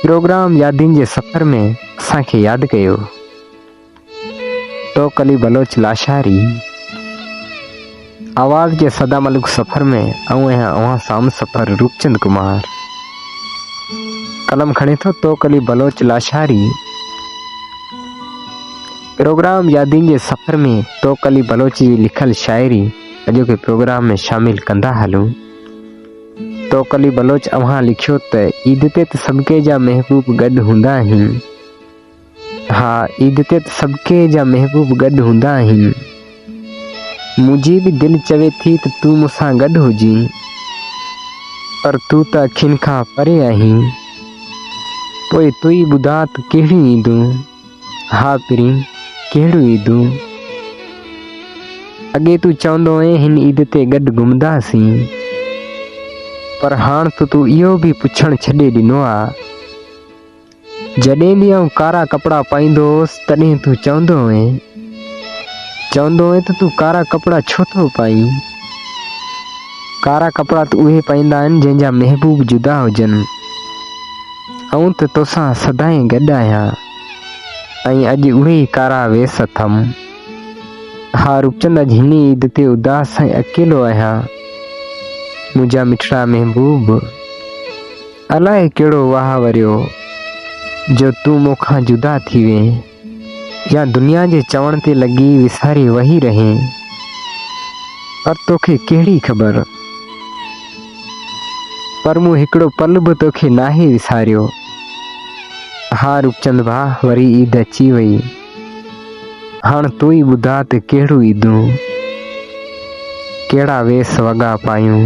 Programme يادين جي سفر ۾ اسان کي ياد ڪيو توڪ علي بلوچ لاشاري آواز جي صدا ملڪ سفر ۾ آئون آهيان اوهان سام سفر روپچند ڪمار قلم کڻي ٿو تو ڪلي بلوچ لاشاري پروگرام يادين جي سفر ۾ تو ڪلي بلوچ جي لکل شاعري اڄوڪي پروگرام ۾ شامل ڪندا هلون توڪلي بلوچ اوهان لکيو ته عيد تي ته سڀڪي جا محبوب گڏ هوندا آهن ها عيد تي ته سڀڪي جا محبوب گڏ هوندا آهن منهنجي به دل چوي ٿي ته تون مون سان گڏ هجين پر تون ته اکين کان پري آهين پوء تون ئي ٻڌاء ته ڪهڙيون عيدون ها پرين ڪهڙيون عيدون؟ اڳي تون چوندو هئين هن عيد تي گڏ گهمنداسين پر هاڻ ته تون اهو به پڇڻ ڇڏي ڏنو آ. جڏهن به آئون ڪارا ڪپڙا پائيندو هوس تڏهن تون چوندو هئين چوندو هئين ته تون ڪارا ڪپڙا ڇو ٿو پائين؟ ڪارا ڪپڙا ته اهي پائيندا آهن جنهن جا محبوب جدا هجن. آئون ته توسان سدائين گڏ آهيان ۽ اڄ اهي ئي ڪارا ويس اٿم. ها روپچند اڄ هن ئي عيد تي اداس ۽ اڪيلو آهيان. منهنجا مٺڙا محبوب! الائي ڪهڙو واهه وريو جو تون مون کان جدا ٿي وئين. يا دنيا جي چوڻ تي لڳي وساري وهي رهين پر توکي ڪهڙي خبر پر مون هڪڙو پل به توکي ناهي وساريو ها روپچند ڀاء وري عيد اچي وئي هاڻ تون ئي ٻڌاء ته ڪهڙيون عيدون ڪهڙا ويس وڳا پايون.